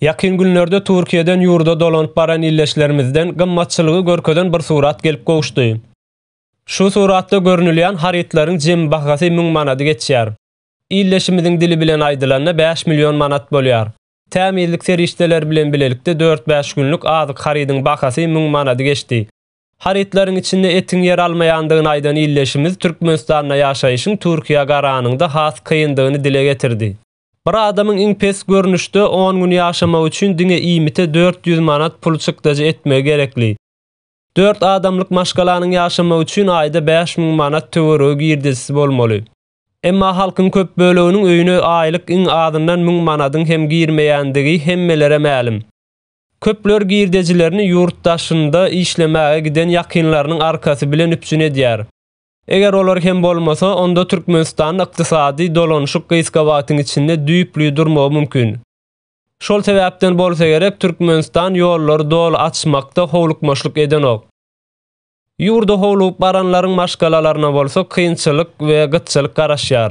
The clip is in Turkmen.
Ýakyn günlerde Türkiýeden ýurda dolanyp baran ildeşlerimizden gymmatçylygy görkezen bir surat gelip gowuşdy. Şu suratda görnülýän harytlaryň jemi bahasy müň manady geçýär. Ildeşimiziň dili bilen aýdylanda bäş million manat bolýar. Tämizlik serişdeleri bilen bilelikde dört-bäş günlük azyk harydyň bahasy müň manady geçdi. Harytlaryň içinde etiň ýer almaýandygyny aýdan ildeşimiz Türkmenistanda ýaşaýşyň Türkiýä garanyňda has kyndygyny dile getirdi. Bir adamyň iň pes görnüşde on gün ýaşamagy üçin diňe iýmite dört ýüz manat pul çykdajy etmegi gerekli. Dört adamlyk maşgalanyň ýaşamagy üçin aýda bäş müň manat töweregi girdejisi bolmaly. Emma halkyň köp böleginiň öýüne aýlyk iň azyndan müň manadyň hem girmeýändigi hemmelere mälim. Köpler girdejilerini ýurt daşynda işlemäge giden ýakynlarynyň arkasy bilen üpjün edýär. Eger olar hem bolmasa, onda Türkmenistanda ykdysady dolanyşyk gysga wagtyň içinde düýpli durmagy mümkin. Şol sebäpden bolsa gerek, Türkmenistan ýollary doly açmakda howlukmaçlyk edenok. Ýurda howlugyp baranlaryň maşgalalaryna bolsa kynçylyk we gytçylyk garaşýar.